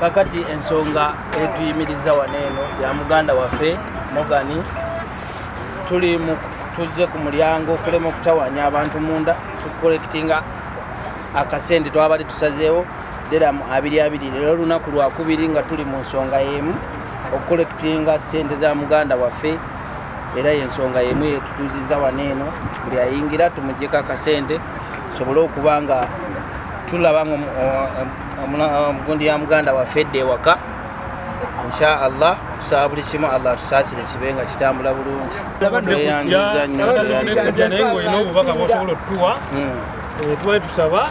kakati ensonga etuyimiriza wano eno ya muganda waffe mogani tuli tuzze ku mulyango okulema okutawanya abantu munda tukolekitinga akasente twabadde tusazeewo deramu abiri abiri lero olunaku lwakubiri nga tuli mu nsonga yemu okukolekitinga sente za muganda waffe era yensonga yemu yetutuziza wano eno buli ayingira tumugyeko akasente tusobole okuba nga tulaba nga omugundi ya muganda waffe edda ewaka insha allah tusaba buli kimu allah tusaasire kibe nga kitambula bulungi eyanjizanyo naye ngaolina obubaka bwosobola otutuwa hmm. eh, twali tusaba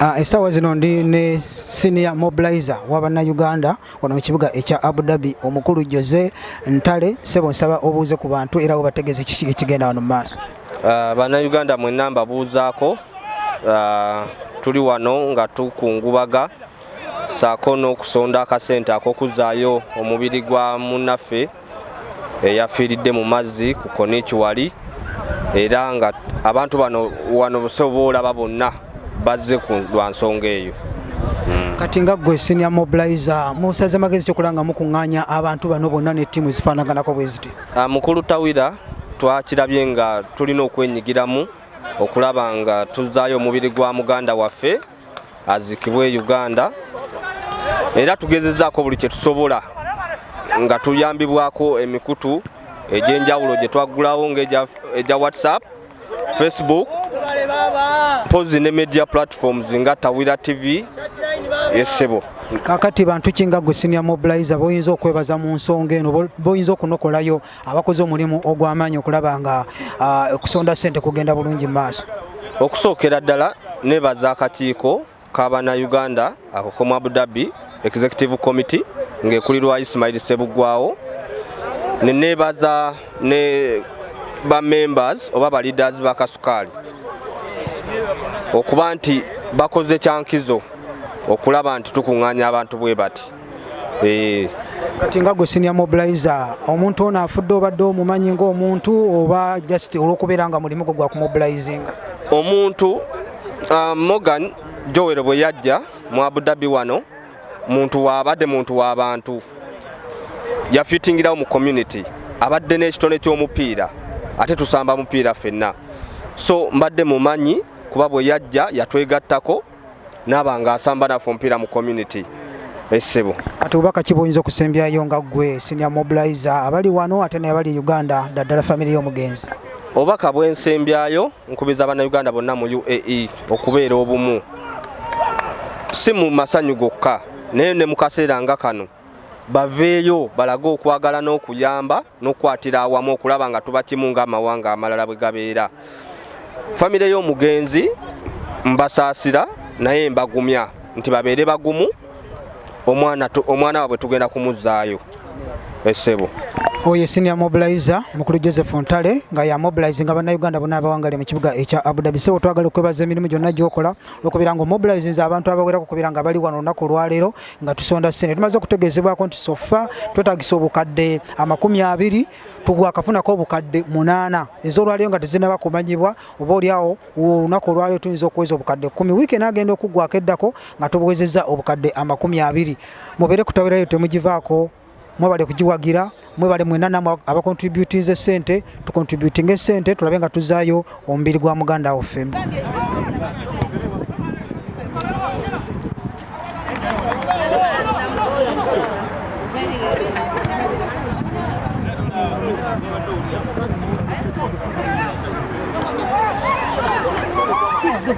Ah, essaawa zino ndi ne senior mobilizer wa bannayuganda wano mu kibuga ekya abu dhabi omukulu jose ntale sebo nsaba obuuze ku bantu era webategeeze kiki ekigenda wano mu maaso ah, bannayuganda mwenna mbabuuzaako ah, tuli wano nga tukungubaga saako n'okusonda akasente ak'okuzaayo omubiri gwa munnaffe eyafiiridde mu mazzi ku koniiki wali era nga abantu bano wano busobola olaba bonna bazze lwa nsonga eyo kati nga gwe senior mobilizer musaze magezi kyokola nga mukuŋŋaanya abantu bano bonna ne ttiimu ezifaanaganako bwe ziti ah, mukulu tawira twakirabye nga tulina okwenyigiramu okulaba nga tuzaayo omubiri gwa muganda waffe azikibwe Uganda era tugezezaako buli kye tusobola nga tuyambibwako emikutu egy'enjawulo gye twaggulawo ng'egya whatsapp facebook mpozi ne media platforms nga tawira tv esebo kakati bantu ki nga gwe senior mobilizer boyinza okwebaza mu nsonga eno boyinza okunokolayo abakoze omulimu ogw'amaanyi okulaba nga okusonda ssente kugenda bulungi mu maaso okusookera ddala nebaza akakiiko kabana uganda akokomu abu dhabi executive committee ngaekulirwa ismail sebuggwawo nenebaza ne bamembers oba baleaders ba kasukaali okuba nti bakoze kyankizo okulaba nti tukuŋŋaanya abantu bwe bati eh. kati nga gwe senior mobilizer omuntu ono afudde obadde omumanyi ngaomuntu oba just olwokubeera nga mulimu gwe gwakumubilizinga omuntu uh, morgan jowero bwe yajja mu abudabi wano muntu waabadde muntu w'abantu yafitingirawo mu community abadde n'ekitone ky'omupiira ate tusamba mupiira fenna so mbadde mumanyi kuba bwe yajja yatwegattako naba nga asamba nafe omupiira mu community esebo eh, ati obaka kiboyinza okusembyayo nga gwe senior mobilizer abali wano ate nabali e uganda daddala famiry yomugenzi obaka bwensembyayo nkubiza abana uganda bonna mu uae okubeera obumu si mu masanyu gokka naye ne mukaseera nga kano baveeyo balage okwagala n'okuyamba n'okukwatira awamu okulaba nga tuba kimu ng'amawanga amalala bwe gabeera famire y'omugenzi mbasaasira naye mbagumya nti babeere bagumu omwana omwana wabwe tugenda kumuzzaayo esebo oyo senior mobilizer mukulu joseph ntale nga ya mobilize nga bannayuganda bona abawangale mu kibuga ekya abudabi sebo twagala okwebaza emirimu gyonna gyokola okubeera nga omobilizing abantu abawerako okubeera nga bali wano olunaku olwaleero nga tusonda ssente tumaze okutegeezebwako nti sofa twetagisa obukadde amakumi abiri tugwakafunako obukadde munaana ezolwaliyo nga tezinaba kumanyibwa oba oliawo olunaku olwaliyo tuyinza okuweza obukadde kumi wiiki enagenda okuggwako eddako nga tubuwezeza obukadde amakumi abiri mubeere kutawirayo temugivaako mwebale kugiwagira mwebale mwena namwe abakontributinze sente tukontributinga esente tulabe nga tuzayo omubiri gwa muganda waffe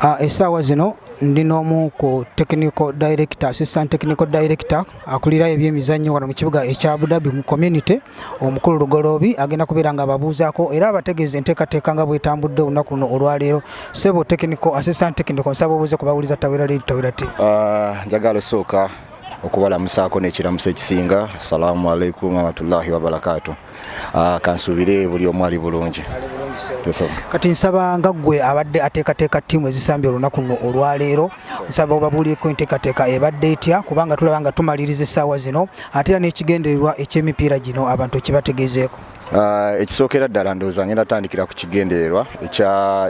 Ah, esaawa zino ndi n'omu ku technical director assistant technical director akulira ebyemizannyo wano mu kibuga ekya abudabi mu community omukulu lugoloobi agenda kubeera nga ababuuzaako era abategeeza enteekateeka nga bwetambudde olunaku luno olwaleero sebo technical assistant technical nsaba obuuze ku bawuliza tawera leeri tawera ti ah, njagala osooka okubalamusaako nekiramuso ekisinga assalamu alaikum warahmatullahi wabarakatu ah, kansuubire buli omu ali bulungi kati nsaba nga ggwe abadde ateekateeka ttiimu ezisambye olunaku luno olwaleero nsaba obabuulieko enteekateeka ebadde etya kubanga tulaba nga tumaliriza essaawa zino ate era n'ekigendererwa eky'emipiira gino abantu ekibategeezeeko ah, ekisookera ddala ndowooza ngenda tandikira ku kigendererwa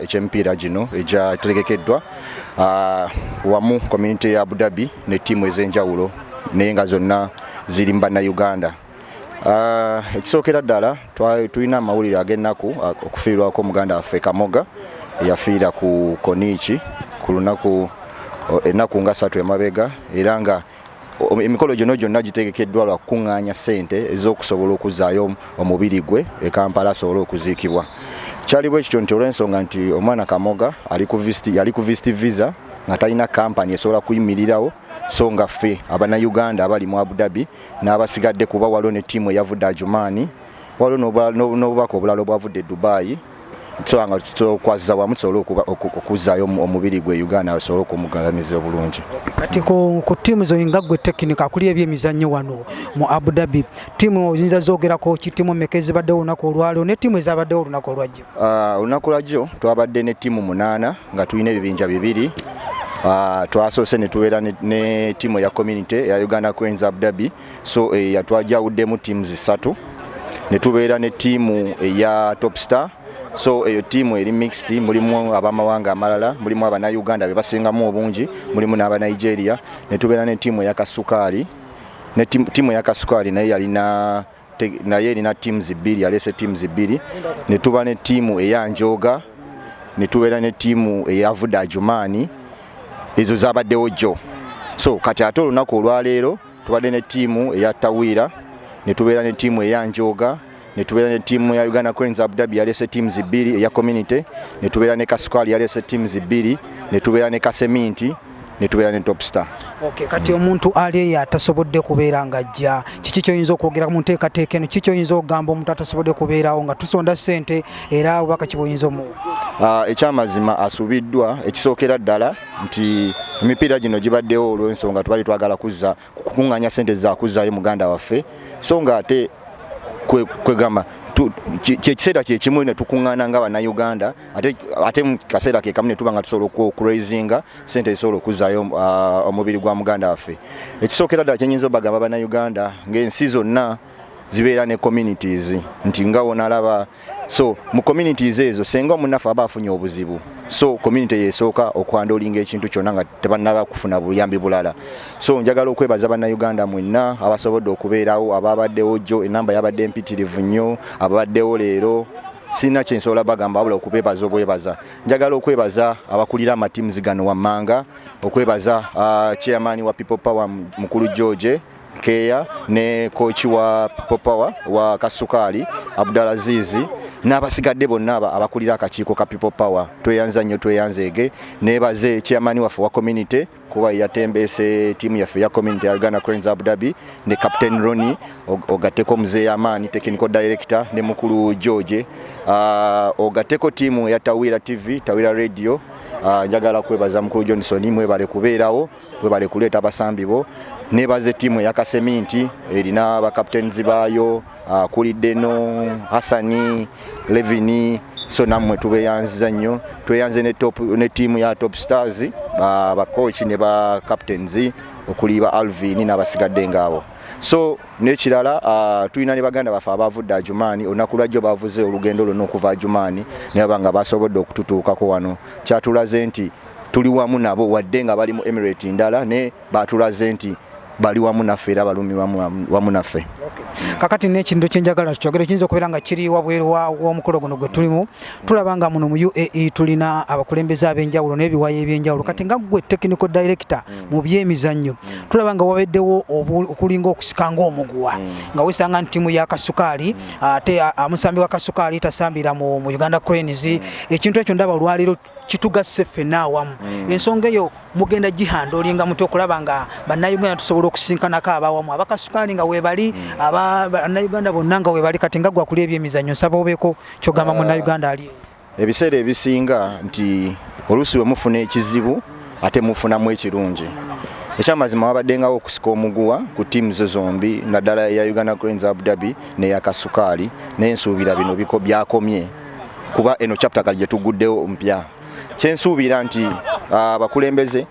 eky'emipiira gino egyategekeddwa ah, wamu community ya abu dhabi ne ttiimu ez'enjawulo naye nga zonna ziri mu bannayuganda Ah, ekisookera ddala tulina amawulire ag'ennaku ah, okufiirwako muganda waffe kamoga yafiira ku koniiki ku lunaku oh, ennaku nga satu emabega era nga oh, emikolo gyono gyonna gitegekeddwa lwa kukuŋŋaanya ssente ez'okusobola okuzaayo omubiri gwe e kampala asobole okuziikibwa kyali bwe kityo nti olw'ensonga nti omwana kamoga yali ku visiti visa nga talina kampani esobola kuyimirirawo so nga ffe abanauganda abali mu abu dhabi n'abasigadde kuba waliwo ne ttiimu eyavudde ajumaani waliwo n'obubaka obulala obwavudde e dubaayi tusobola nga tukwazza wamu tusobole okuzzaayo omubiri gwe uganda asobole okumugalamiza obulungi kati ku ttiimu zo nga gwe tekinika akuli ebyemizannyo wano mu abu dhabi ttiimu oyinza zoogerako ki ttiimu meka ezibaddewo olunaku olwaliro ne ttiimu ezabaddewo olunaku olwajja Ah, olunaku lwajjo twabadde ne ttiimu munaana nga tulina ebibinja bibiri ah, twasoose ne tubeera ne ttiimu eya community eya uganda queens abdabi so eh, yatwajawuddemu ttiimu zisatu ne tubeera ne ttiimu eya top star so eyo ttiimu eri mixed mulimu abamawanga amalala mulimu abanauganda be basingamu obungi mulimu n'abanigeria ne tubeera ne ttiimu eya kasukaali ne ttiimu eya kasukaali naye yalina naye erina teams bbiri yaleese teams bbiri ne tuba ne ttiimu eya njooga ne tubeera ne ttiimu eyavudde ajumaani ezo zabaddewo jjo so kati ate olunaku olwaleero tubadde ne ttiimu eya tawiira ne tubeera ne ttiimu eya njooga ne tubeera ne ttiimu ya uganda cranes abudabi yaleese teams bbiri eya community ne tubeera ne kasukaali yaleese teams bbiri ne tubeera ne kaseminti netubeera ne top star okay, kati mm. omuntu ali eyo atasobodde kubeera nga ajja kiki kyoyinza okwogera mu nteekateeka eno kiki kyoyinza okugamba omuntu atasobodde kubeerawo nga tusonda sente era obubaka kiboyinza omuwa uh, ah, ekyamazima asubiddwa ekisookera ddala nti emipiira gino gibaddewo olw'ensonga tubali twagala kuzza kukunganya sente zakuzayo muganda waffe so nga ate kwegamba kyekiseera kyekimu netukungana nga banauganda ate mukaseera kekamu netuba nga tusobola okuraisinga sente zisobola okuzayo uh, omubiri gwa muganda waffe ekisookera ddala kyenyinza obagamba banauganda ngaensi zonna zibeera ne communities nti nga wonalaba so mu communities ezo senga omunafe aba afunye obuzibu so community yesooka okwandolinga ekintu kyonna nga tebannaba kufuna buyambi bulala so njagala okwebaza bannayuganda mwenna abasobodde okubeerawo ababaddewo jjo enamba yabadde mpitirivu nnyo ababaddewo leero sirina kyensobola bagamba wabula okubebaza obwebaza njagala okwebaza abakulira amatimuzi gano wammanga okwebaza uh, chairman wa people power mukulu george keeya ne kooki wa people power wa kasukaali abdulazizi n'abasigadde bonna abakulira akakiiko ka people power tweyanza nnyo tweyanzeege nebaze chairman waffe wa community kuba yatembeese tiimu yaffe ya community ya uganda cranes abu dhabi ne captain roni ogatteko muzeeyi amaani technical director ne mukulu george ah, ogatteko tiimu ya tawira tv tawira radio ah, njagala kwebaza mukulu johnson mwebale kubeerawo webale kuleeta abasambi bo nebaze ttiimu eya kaseminti erina bakaptens baayo akulidde no hassani levini so nammwe tubeyanziza nnyo tweyanze ne ttiimu ya top stars bakoci ne bacaptens okuli ba alvin n'abasigadde ngaabo so nekirala uh, tulina ne baganda baffe abavudde ajumaani olunaku lwajjo bavuze olugendo lwonna okuva ajumaani nebaba nga basobodde okututuukako wano kyatulaze nti Tuli wamu nabo wadde nga bali mu Emirate ndala naye baatulaze nti bali wamu naffe era balumirwa wamu naffe. Kakati n'ekintu kye njagala tukyogere kiyinza okubeera nga kiri wabweru w'omukolo guno gwe tulimu tulaba nga muno mu UAE tulina abakulembeze ab'enjawulo n'ebiwayi eby'enjawulo kati nga ggwe technical director mm. mu byemizannyo mm. tulaba nga wabaddewo okulinga okusika ng'omuguwa mm. nga wesanga nti ttiimu ya kasukaali ate amusambi wa kasukaali tasambira mu Uganda Cranes ekintu ekyo ndaba olwaleero kitugasse ffenna awamu mm. ensonga eyo mugenda gihanda olinga muti okulaba nga bannayuganda tusobola okusinkanako abawamu abakasukaali nga webali mm. abannayuganda bonna nga webali kati nga gwakuli ebyemizannyo nsaba obeeko kyogamba uh, munnayuganda ali ebiseera ebisinga nti oluusi bwe mufuna ekizibu ate mufunamu ekirungi ekyamazima wabaddengawo okusika omuguwa ku tiimu zo zombi naddala eya uganda cranes abu dhabi neya kasukaali naye nsuubira bino byakomye kuba eno chapter kali gyetuguddewo mpya kyensuubira nti ah, abakulembeze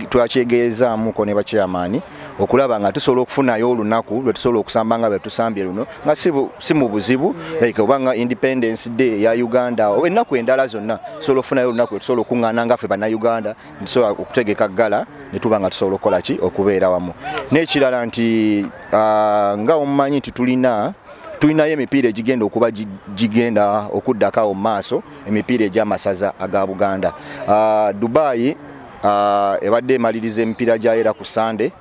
twakyegeezaamuko ne bakyamaani okulaba nga tusobola okufunayo olunaku lwetusobola okusamba nga bwetusambye luno nga si mu buzibu like oba nga independence day ya uganda oba ennaku endala zonna tusobola okufunayo olunaku lwetusobola okuŋŋaana nga ffe bannauganda tusobola okutegeka ggala ne tuba nga tusobola okukola ki okubeera wamu n'ekirala nti ah, nga omumanyi nti tulina tulinayo emipiira egigenda okuba gigenda okuddako awo mu maaso emipiira egy'amasaza aga buganda uh, dubai uh, ebadde emaliriza emipiira gyayo era ku sande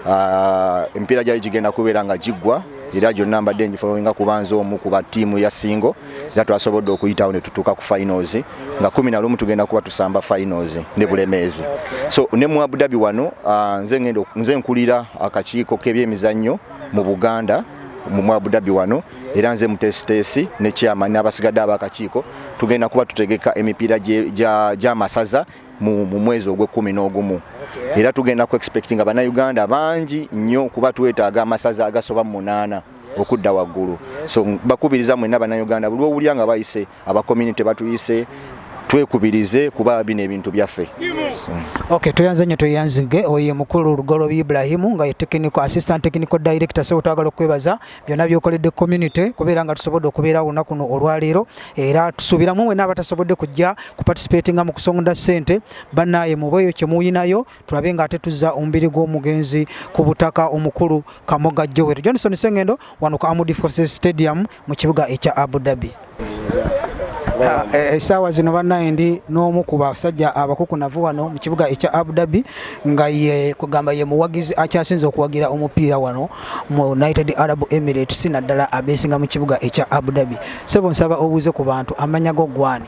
uh, ah, emipiira gyayo gigenda kubeera nga giggwa era gyonna mbadde ngifolowinga kuba nze omu kuba tiimu ya singo era twasobodde okuyitawo ne tutuuka ku finals nga kumi na lumu tugenda kuba tusamba finals ne bulemeezi so ne mu abudabi wano nze nkulira akakiiko k'ebyemizannyo mu buganda mu Abu Dhabi wano era nze mutesitesi ne chairman n'abasigadde abakakiiko tugenda kuba tutegeka emipiira gy'amasaza mu mwezi ogw'ekkumi n'ogumu era tugenda ku expectinga bannayuganda bangi nnyo kuba twetaaga amasaza agasoba mu munaana okudda waggulu so bakubiriza mwenna bannayuganda buli owulira nga bayise aba community batuyise twekubirize kuba bino ebintu byaffe okay tuyanze nyo tuyanzige oye mukulu lugolo Ibrahim nga technical assistant technical director so twagala okwebaza byona byokoledde community kubeera nga tusobodde okubeera wona kuno olwaleero era tusubira mumwe n'abatasobodde kujja ku participating mu kusonda sente banaye mubeyo kyemuyinayo tulabe nga ate tuzza omubiri gw'omugenzi ku butaka omukulu kamoga joel johnson sengendo wano ku amudi forces stadium mu kibuga ekya abu dhabi ah, eh, esaawa zino banaye ndi n'omu ku basajja abakukunavu wano mu kibuga ekya abu dhabi nga ye kugamba ye muwagizi akyasinze okuwagira omupiira wano mu united arab emirates naddala abeesinga mu kibuga ekya abu dhabi sebo nsaba obuuze ku bantu amanya go gwani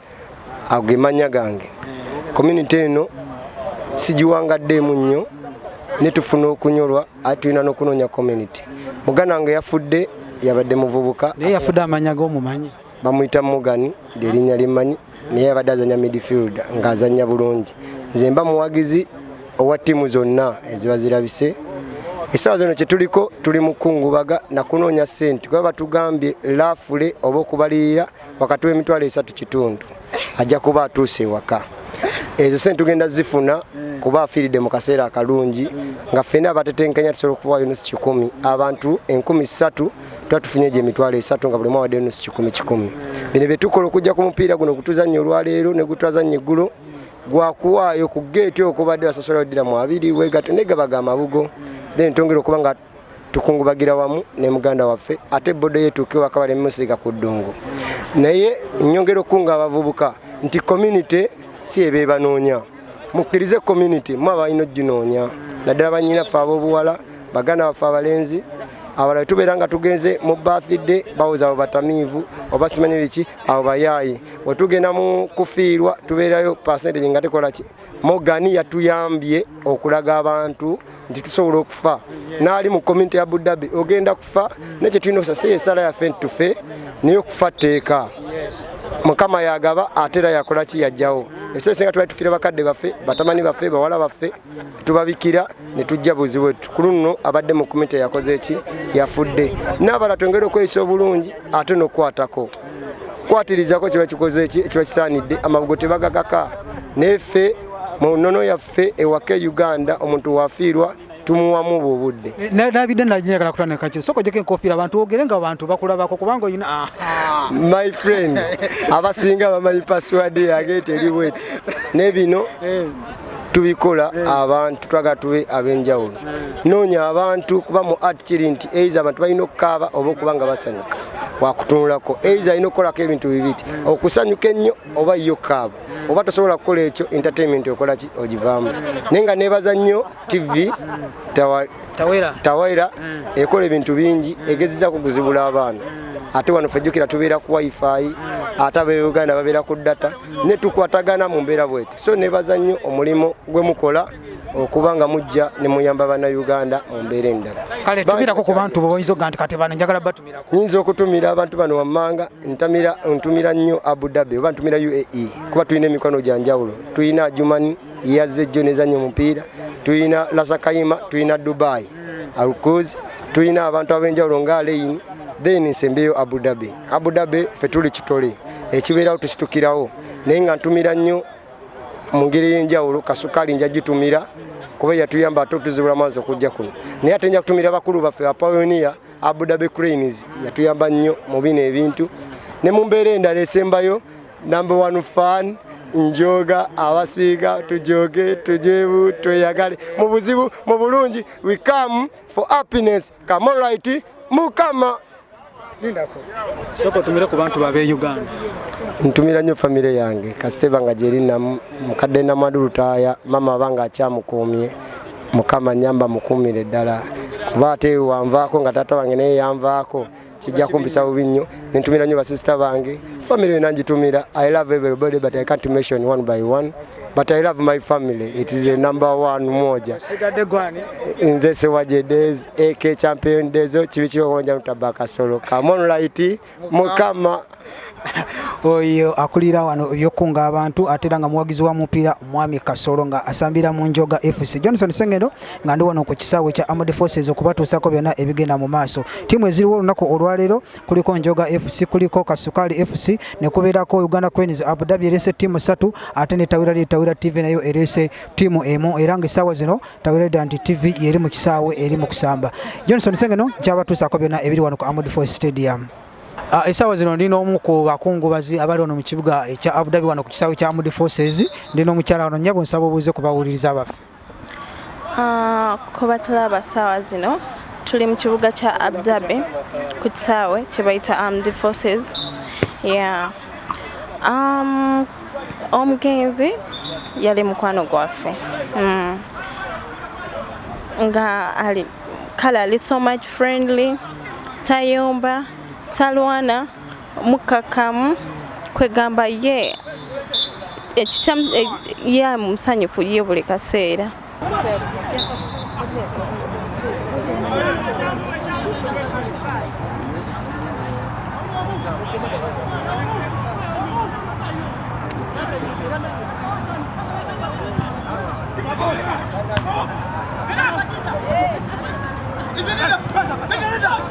ago ge mannya gange community eno sigiwangaddeemu nnyo ne tufuna okunyolwa ate tulina n'okunoonya community muganda wange yafudde yabadde muvubuka naye yafudde amanya g'omumanyi bamuyita mugani lyerinnya limmanyi naye yabadde azanya midfield ng'azanya bulungi nze mba muwagizi owa ttiimu zonna eziba zirabise essaawa zino kye tuliko tuli mukungubaga nakunoonya ssente kuba batugambye laafule oba okubalirira wakati w'emitwalo esatu kitundu ajja kuba atuuse ewaka ezo sente tugenda zifuna kuba afiiridde mu kaseera akalungi nga ffena abatetenkanya tusobola okuwayo nusu kikumi abantu enkumi ssatu tuba tufunye egyo emitwalo esatu nga buli mwawaddeyo nusu kikumi kikumi bino bye tukola okujja ku mupiira guno gutuzannya olwaleero ne gutwazannya eggulo gwakuwaayo ku geeti okubadde basasolayo ddira mu abiri wegato negabagamabugo then tongera okuba nga tukungubagira wamu ne muganda waffe ate bodo yetuuke waka balemusiiga ku ddungu naye nyongera okukunga abavubuka nti community si ebebanoonya mukkirize community mu abalina oginoonya naddala banyina ffe ab'obuwala baganda baffe abalenzi abalala tubeera nga tugenze mu bathday bawoza abo batamiivu oba simanyi biki abo bayaayi wetugenda mu kufiirwa tubeerayo percentage nga tekolaki Morgan yatuyambye okulaga abantu nti tusobola okufa naali mu community ya Abudabi ogenda kufa naye kyetulina okusasa esala yaffe nti tufe naye okufa tteeka mukama yagaba ate era yakola ki yajjawo ebiseera esinga tubali tufiira bakadde baffe batamani baffe bawala baffe tubabikira ne tujja buzibu ku luno abadde mu community yakoze ki yafudde n'abala twongere okweyisa obulungi ate n'okukwatako kwatirizako kiba kikoze ki ekiba kisaanidde amabugo tebagakaka naye ffe mu nnono yaffe ewaka e uganda omuntu wafiirwa tumuwamu bwe obudde eh, nabidde najagala kutandikakyo soka ojeko enkofiira abantu ogere nga abantu bakulabako kubanga oyina ah. my friend abasinga bamanyi password yagete eri bweti ne bino eh. tubikola eh. abantu twagala tube ab'enjawulo eh. noonya abantu kuba mu art kiri nti eiza abantu balina okukaaba oba okuba nga basanyuka wakutunulako eiza alina okukolako ebintu bibiri eh. okusanyuka ennyo oba yo kaaba oba tosobola kukola ekyo entertainment okola ki ogivaamu naye nga nebaza nnyo tv tawaira ekola ebintu bingi egezezaku okuzibula abaana ate wano fejjukira tubeera ku wifi ate abeuganda babeera ku data netukwatagana mu mbeera bwete so nebaza nnyo omulimu gwe mukola okuba nga mujja ne muyamba bannayuganda mu mbeera endala kale tumirako ku bantu boyinza okuga nti kati bano njagala batumirako nyinza okutumira abantu bano wammanga ntamira ntumira nnyo abu dhabi oba ntumira uae kuba tulina emikono gya njawulo tulina jumani yazze jjo nezannya omupiira tulina lasakayima tulina dubai alcuz tulina abantu ab'enjawulo nga aleini then nsembeyo abu dhabi abu dhabi fe tuli kitole ekibeerawo tusitukirawo naye nga ntumira nnyo mu ngeri ey'enjawulo kasukaali nja gitumira kuba yatuyamba ate otuzibula maazi okujja kuno naye ate nja kutumira bakulu baffe bapayoniya abudabe cranes yatuyamba nnyo mu bino ebintu ne mu mbeera endala esembayo number one fan njoga abasiiga tujoge tujebu tweyagale mu buzibu mu bulungi we come for happiness come right mukama lindako sooka otumire ku bantu babe uganda ntumira nnyo famire yange kasita eba nga gyerinamu mukadde namadu lutaaya maama aba nga akyamukuumye mukama nyamba mukuumire ddala kuba ate wanvaako nga taata wange naye yanvaako kijja kumpisa bubi nnyo nentumira nnyo basisita bange famire yona ngitumira i love everybody but i can't mention one by one but I love my family. It is a number one moja. Nze sewaje days AK champion days chibichiro konja nutabaka solo. Come on lighty mukama. Oyo akulira wano byokunga abantu atera nga muwagizi wa mupiira mwami Kasolo nga asambira mu Njoga FC. Johnson Sengendo nga ndi wano ku kisaawe kya Armed Forces okubatuusako byonna ebigenda mu maaso. Tiimu eziriwo olunaku olwaleero kuliko Njoga FC, kuliko Kasukali FC ne kubeerako Uganda Cranes. Abu Dhabi erese ttiimu ssatu ate ne Tawira Leader Tawira TV nayo erese ttiimu emu era ng'essaawa zino Tawira Leader nti TV yeri mu kisaawe eri mu kusamba. Johnson Sengeno kyabatuusaako byonna ebiri wano ku Amud Foy Stadium. Ah, esawa zino ndi n'omu ku bakungubazi abali wano mu kibuga ekya Abu Dhabi wano ku kisaawe kya Amud Forces ndi n'omukyala wano nnyabo nsaba obuuze ku bawuliriza baffe. Kubatulaba saawa zino tuli mu kibuga kya Abdabi ku kisaawe kye bayita Armed Forces. Omugenzi yali mukwano gwaffe mm. nga ali kale ali so much friendly tayomba talwana. mukkakkamu kwegamba ye ekikyamu eh, ye musanyufu ye buli kaseera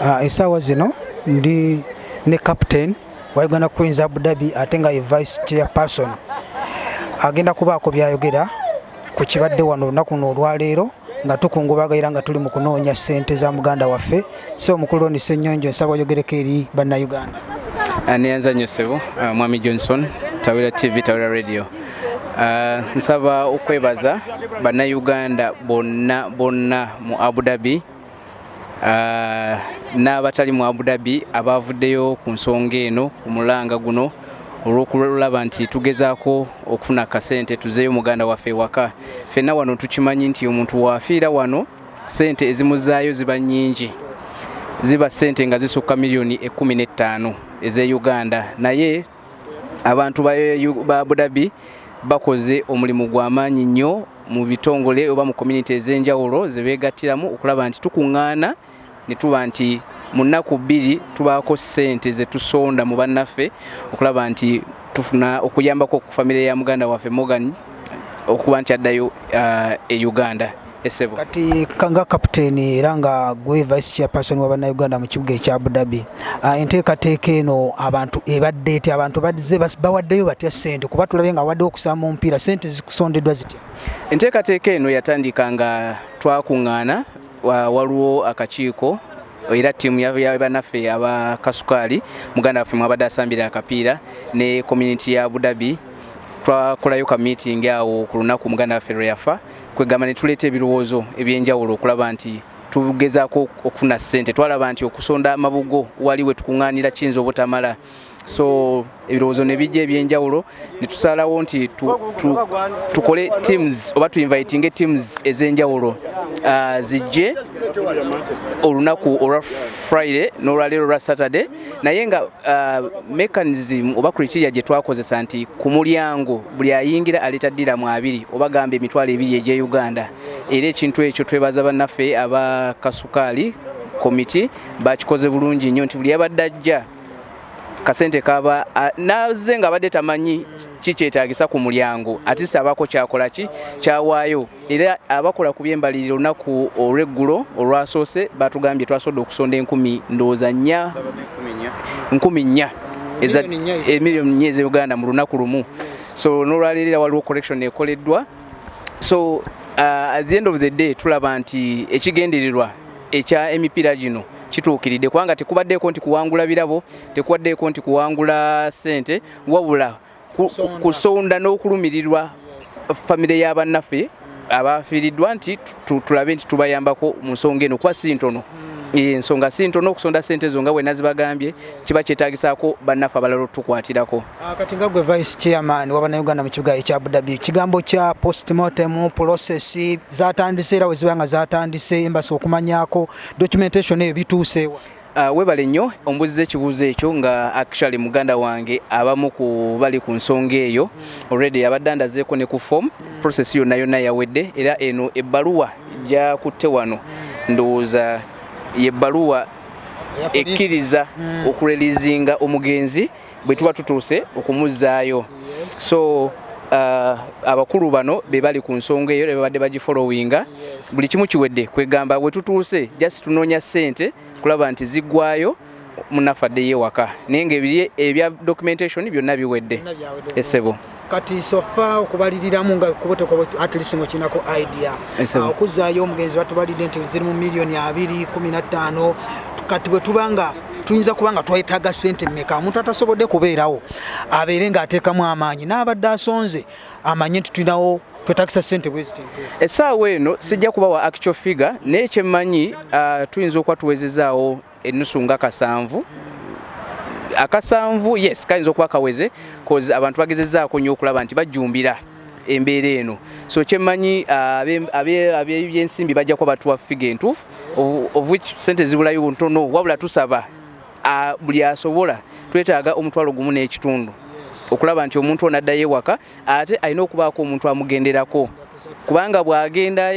Ah, esaawa zino ndi ne captain wa Uganda Queens Abu Dhabi ate nga ye vice chairperson agenda kubaako byayogera ku kibadde wano olunaku luno olwaleero nga tukungubaga era nga tuli mu kunoonya ssente za muganda waffe so omukulu oni ssenyonjo nsaba oyogereko eri bannayuganda ah, neyanza nnyo sebo ah, mwami johnson tawera tv tawera radio ah, nsaba okwebaza bannayuganda bonna bonna mu abu dhabi ah, n'abatali mu Abu Dhabi abaavuddeyo ku nsonga eno omulanga guno olw'okulaba nti tugezaako okufuna kasente tuzeeyo muganda waffe ewaka fenna wano tukimanyi nti omuntu waafiira wano sente ezimuzaayo ziba nnyingi ziba sente nga zisukka miliyoni ekumi n'ettaano ez'e uganda naye Abantu ba Abu Dhabi bakoze omulimu gwa maanyi nnyo mu bitongole oba mu community ez'enjawulo ze beegattiramu okulaba nti tukuŋŋaana ne tuba nti mu nnaku bbiri tubaako ssente ze tusonda mu bannaffe okulaba nti tufuna okuyambako ku famire ya muganda waffe Morgan okuba nti addayo uh, e Uganda. esebo kati nga captain era nga gwe vice chairperson wa bana Uganda mu kibuga ekya Abu Dhabi ah, enteekateeka eno abantu ebadde eti abantu badze bawaddeyo batya sente kuba tulabye nga wadde okusaba mu mpiira sente zikusondeddwa zitya enteekateeka eno yatandika nga twakuŋŋaana waliwo akakiiko era ttiimu yabanaffe aba kasukaali muganda waffe mwabadde asambira akapiira ne community ya abu dhabi twakolayo ka meeting awo ku lunaku muganda waffe lwe yafa kwegamba ne tuleeta ebirowoozo eby'enjawulo okulaba nti tugezaako okufuna ssente twalaba nti okusonda amabugo wali we tukuŋŋaanira kiyinza obutamala so ebirowoozo ne bijja ebyenjawulo ne tusalawo nti tukole teams oba tuinvitinge teams ez'enjawulo ah, zijje olunaku olwa friday n'olwaleero olwa saturday naye nga uh, mechanism oba criteria gye twakozesa nti ku mulyango buli ayingira aleeta ddiramu abiri oba gamba emitwalo ebiri egya uganda era ekintu ekyo twebaza bannaffe aba kasukaali komiti bakikoze bulungi nnyo nti buli yabadde ajja kasente kaba naze nga abadde tamanyi kikyetagisa ku mulyango atisa abako kyakola ki kyawaayo era abakola ku byembalirira olunaku olweggulo olwasoose batugambye twasobodde okusonda enkumi ndowooza nnya nkumi nnya emiliyoni nnya eza uganda mu lunaku lumu so nolwaleero era waliwo correction ekoleddwa so uh, at the end of the day tulaba nti ekigendererwa ekya emipiira gino kituukiridde kubanga tekubaddeeko nti kuwangula birabo tekubaddeeko nti kuwangula ssente wabula kusonda n'okulumirirwa famire ya bannaffe abaafiiriddwa nti tulabe nti tubayambako mu nsonga eno kuba si ntono hmm. eh, ensonga si ntono okusonda sente ezo nga bwe nazibagambye kiba kyetagisaako bannaffe abalala otukwatirako ah, kati nga gwe vice chairman waba na uganda mu kibuga ekya abudabi ekigambo kya postmortem process zatandise era weziba nga zatandise embasi okumanyako documentation eyo bituuseewa Uh, webale nnyo ombuziza ekibuuzo ekyo nga actually muganda wange abamu ku bali ku nsonga eyo already abadde andazeeko ne ku form process yonna yonna yawedde era eno ebbaluwa gyakutte wano ndowooza yebbaluwa ekkiriza hmm. okurelizinga omugenzi bwe tuba tutuuse okumuzzaayo so uh, abakulu bano be bali ku nsonga eyo bebabadde bagifolowinga buli kimu kiwedde kwegamba we tutuuse just tunoonya ssente kulaba nti ziggwayo munaffe addeyo ewaka naye ngaebiri ebya documentation byonna biwedde esebo kati sofa okubaliriramu nga kubotoko at least ngo kinako idea ah, okuzayo omugenzi batubalide nti ziri mu million 2 15 kati bwe tubanga tuyinza kuba nga twetaaga sente meka omuntu atasobodde kubeerawo abeere ng'ateekamu amaanyi n'abadde asonze amanye nti tulinawo twetakisa sente bweziti essaawa eno sijja kuba wa actual figure naye kyemmanyi uh, tuyinza okuba tuwezezaawo ennusu nga kasanvu akasanvu yes kayinza okuba kaweze cause abantu bagezezaako nnyo okulaba nti bajjumbira embeera eno so kyemmanyi ah, abebyensimbi bajja kuba batuwa figa entuufu of which sente zibulayo ntono wabula tusaba ah, buli asobola twetaaga omutwalo gumu n'ekitundu okulaba nti omuntu ono addayo ewaka ate alina okubaako omuntu amugenderako kubanga bwagenda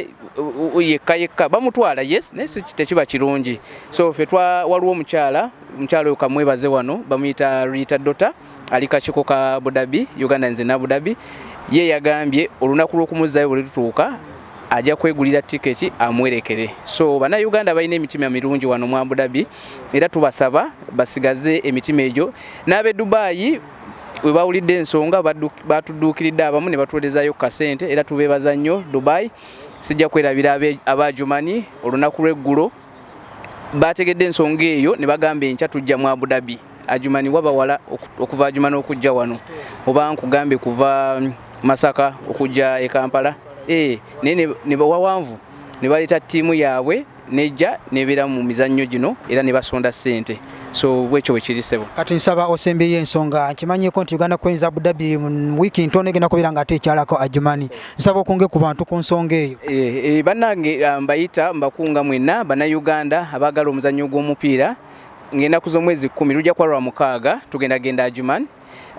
yekka yekka bamutwala yes naye tekiba kirungi so fe waliwo omukyala omukyala oyo kamwebaze wano bamuyita rita dota ali kakiko ka budabi uganda nze nabudabi ye yagambye olunaku lw'okumuzzayo bwe lutuuka ajja kwegulira tiketi amwerekere so bannayuganda balina emitima mirungi wano mu abudabi era tubasaba basigaze emitima egyo n'ab'e dubaayi we bawulidde ensonga baatudduukiridde abamu ne batuweerezayo ku kasente era tubeebaza nnyo dubai sijja kwerabira abaajumani olunaku lw'eggulo baategedde ensonga eyo ne bagamba enkya tujja mu abudabi ajumani wabawala okuva ajumani okujja wano oba nkugambye kuva mm, masaka okujja e kampala eh, naye ne bawawanvu ne baleeta ttiimu yaabwe nejja nebeera mu mizannyo gino era ne basonda ssente so bwekyo bwekiri sebo kati nsaba osembeyo ensonga nkimanyeko nti uganda queens abu dhabi mu wiiki ntono egenda kubeera nga ate ekyalako ajumani nsaba okunge ku bantu ku nsonga eyo eh, eh, bannange ah, mbayita mbakunga mwenna bannayuganda abaagala omuzannyo gw'omupiira ng'ennaku z'omwezi kkumi lujja kuba lwa mukaaga tugenda genda ajumani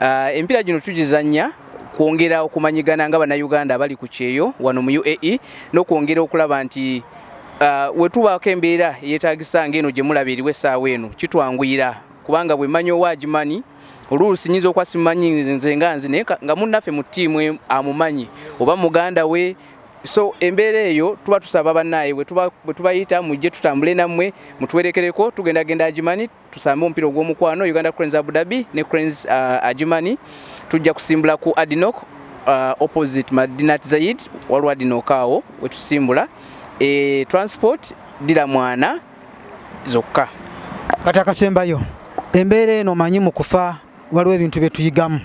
Uh, empira gino tugizannya kwongera okumanyigana nga bannayuganda abali ku kyeyo wano mu uae n'okwongera okulaba nti uh, wetubaako embeera eyetagisa ngaeno gye mulaba eriwo essaawa eno kitwanguyira kubanga bwe mmanyi owa agimanyi oluusi nyinza okuba simanyi nze nga nzi naye nga munnaffe mu ttiimu e, amumanyi oba muganda we so embeera eyo tuba tusaba bannaaye bwe tubayita mujje tutambule nammwe mutuwerekereko tugenda genda agimanyi tusambe omupiira ogw'omukwano uganda cranes abu dhabi ne cranes uh, ajumani tujja kusimbula ku adinok uh, opposite madinat zaid waliwo adinok awo wetusimbula e, transport dira mwana zokka kati akasembayo embeera eno manyi mu kufa waliwo ebintu bye tuyigamu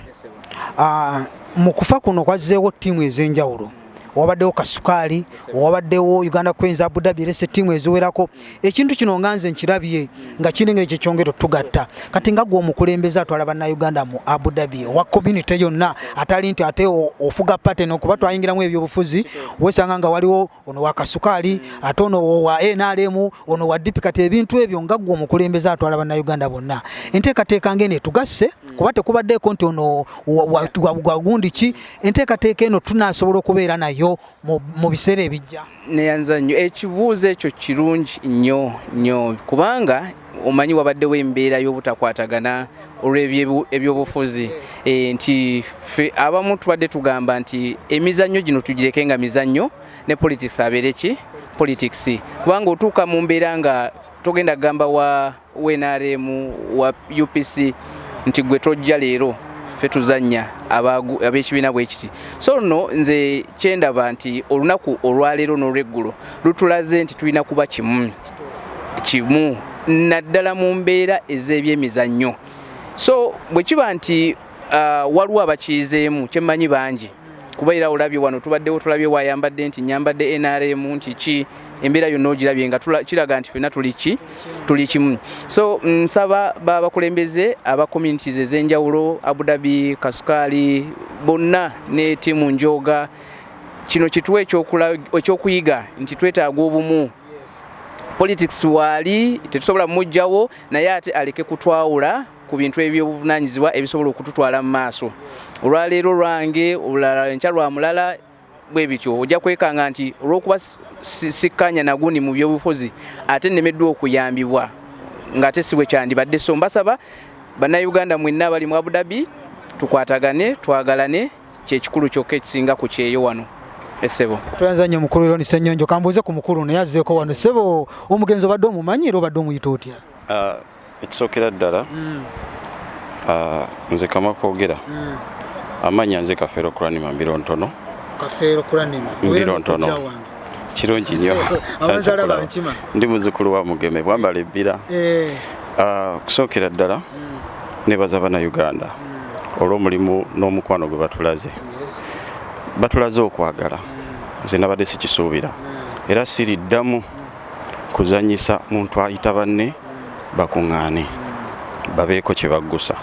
uh, mu kufa kuno kwazzeewo ttiimu ez'enjawulo wabaddewo kasukaali wabaddewo uganda queens abu dhabi erese tiimu eziwerako ekintu kino nga nze nkirabye nga kirina engeri kyekyongera otugatta kati nga gwe omukulembeze atwala bannauganda mu abu dhabi owa community yonna atali nti ate ofuga paten okuba twayingiramu ebyobufuzi wesanga nga waliwo ono wa kasukaali ate ono wa nrm ono wa dipi kati ebintu ebyo nga gwe omukulembeze atwala bannauganda bonna enteekateeka ngeno etugasse kuba tekubaddeeko nti ono wagundi ki enteekateeka eno tunaasobola okubeera nayo mu biseera ebijja neyanza nnyo ekibuuzo ekyo kirungi nnyo nnyo kubanga omanyi wabaddewo embeera y'obutakwatagana olw'ebyobufuzi eh, nti fe abamu tubadde tugamba nti emizannyo gino tugireke nga mizannyo ne politics abeere ki politics kubanga otuuka mu mbeera nga togenda kugamba wa wnrm wa upc nti gwe tojja leero fe tuzanya abekibiina bwekiti so no nze kyendaba nti olunaku olwaleero nolweggulo lutulaze nti tulina kuba kimu kimu naddala mu mbeera ez'ebyemizannyo so bwe kiba nti uh, waliwo abakiizeemu kyemmanyi bangi kuba era olabye wano tubaddewo tulabye wayambadde nti nyambadde nrm nti ki embeera yonna ogirabye nga kiraga nti fena tuli ki tuli kimu so nsaba babakulembeze aba communities ez'enjawulo abudabi kasukaali bonna ne tiimu njooga kino kituwa ekyokuyiga nti twetaaga obumu politics waali tetusobola mujjawo naye ate aleke kutwawula ku bintu eby'obuvunanyizibwa ebisobola okututwala mu maaso olwaleero lwange olulala enkya lwa mulala bwe bityo ojja kwekanga nti olw'okuba sikkanya nagundi mu byobufuzi ate nnemeddwa okuyambibwa ng'ate si bwe kyandibadde so mbasaba bannayuganda mwenna abali mu abudabi tukwatagane twagalane kyekikulu kyokka ekisinga ku kyeyo wano esebo tweyanza nnyo mukulu eroni senyonjo kambuuze ku mukulu naye azzeeko wano sebo omugenzi obadde omumanyi era obadde omuyita otya ah, Ekisookera ddala ah, nze kamwa koogera amanya nze kafeero kulanima mbiro ntono kafeero kulanima mbiro ntono kirungi nnyo ndi muzukulu wa mugeme bwambala ebbira eh. ah, okusookera ddala mm. nebaza bana uganda mm. olw'omulimu n'omukwano gwe batulaze batulaze okwagala mm. nze nabadde sikisuubira era siriddamu kuzannyisa muntu ayita banne bakung'aane babeeko kye baggusa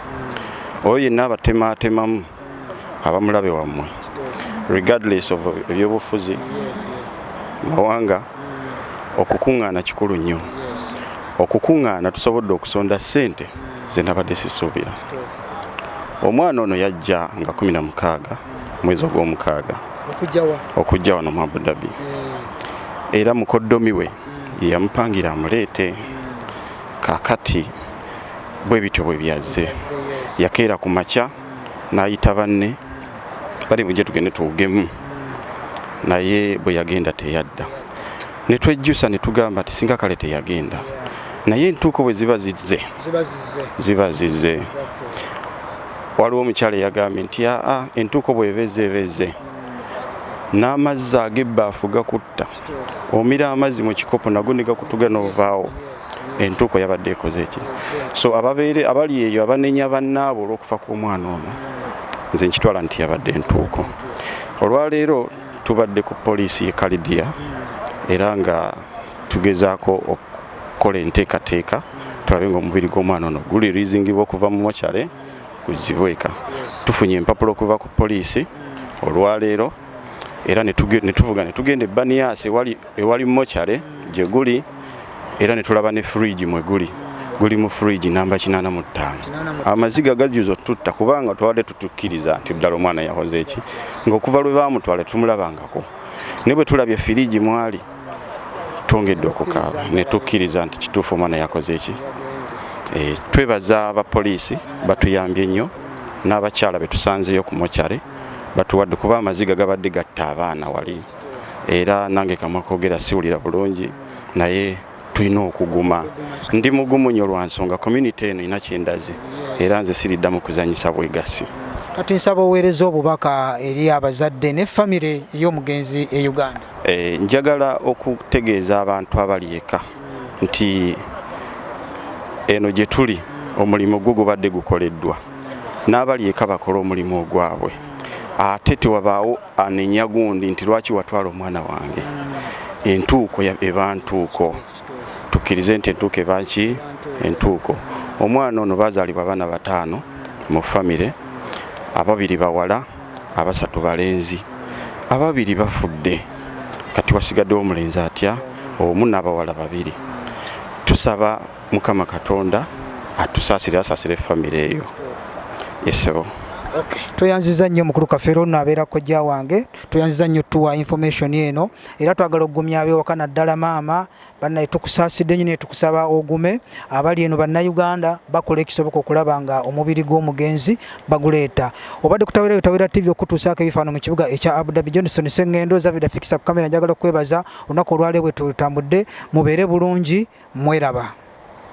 oyo yenna abatemaatemamu abamulabe wammwe regardless of ebyobufuzi mawanga okukung'aana kikulu nnyo okukung'aana tusobodde okusonda ssente ze nabadde sisuubira omwana ono yajja nga kumi na mukaaga mwezi ogw'omukaaga okujja wano mu Abu Dhabi eh. era mukoddomi we hmm. yeyamupangira amuleete hmm. kakati bwe bityo bwe byazze yakeera ku makya hmm. n'ayita banne bali bujje tugende tuwugemu naye bwe yagenda teyadda ne twejjusa ne tugamba ti singa kale teyagenda naye entuuko bwe ziba zizze ziba zizze waliwo omukyala eyagambye nti aa entuuko bwebeze ebeze n'amazzi ag'ebbaafu gakutta omira amazzi mu kikopo nago ne gakutuga n'ovaawo entuuko yabadde ekoze eki so ababeere abali eyo abanenya bannaabo olw'okufa kw'omwana ono nze nkitwala nti yabadde entuuko olwaleero tubadde ku poliisi ye kalidiya era nga tugezaako okukola enteekateeka tulabe ng'omubiri gw'omwana ono guli rizingibwa okuva mu mokyale guzibwe eka tufunye empapula okuva ku poliisi olwaleero era ne tuvuga ne tugenda ebbaniyaasi ewali mokyale gye guli era ne tulaba ne fridge mwe guli guli mu fridge namba kinaana mu ttaano amaziga gajuza otutta kubanga twabadde tutukkiriza nti ddala omwana yahoze eki ng'okuva lwe baamutwala tumulabangako ne bwe tulabye firiigi mwali twongedde okukaaba ne tukkiriza nti kituufu omwana yakoze eki eh, twebaza abapoliisi batuyambye nnyo n'abakyala be tusanzeeyo ku mokyale batuwadde kuba amaziga gabadde gatta abaana wali era nange kamwa kogera siwulira bulungi naye tulina okuguma ndi mugumu nyo lwa nsonga community eno ina kyendaze era nze siriddamu kuzanyisa bwegassi kati nsaba oweereza obubaka eri abazadde ne famire ey'omugenzi e uganda Eh, njagala okutegeeza abantu abali eka nti eno gye tuli omulimu gwo gubadde gukoleddwa n'abali eka bakole omulimu ogwabwe ate tewabaawo anenya gundi nti lwaki watwala omwana wange entuuko eba ntuuko tukkirize nti entuuko eba ki entuuko omwana ono bazaalibwa abaana bataano mu famire ababiri bawala abasatu balenzi ababiri bafudde kati wasigaddewo omulenzi atya omu n'abawala babiri tusaba mukama katonda atusaasire asaasire famire eyo esebo tweyanziza nnyo mukulu kafeero ono abeera kojja wange tweyanziza nnyo tuwa information eno era twagala okugumya abewaka naddala maama banaye tukusaasidde nyo naye tukusaba ogume abali eno bannayuganda bakola ekisoboka okulaba nga omubiri gw'omugenzi baguleeta obadde kutawera yotawera tv okutuusaako ebifaano mu kibuga ekya abudabi johnson sengendo zavida fikisa ku kamera njagala okwebaza olunaku olwaleero bwe tutambudde mubeere bulungi mweraba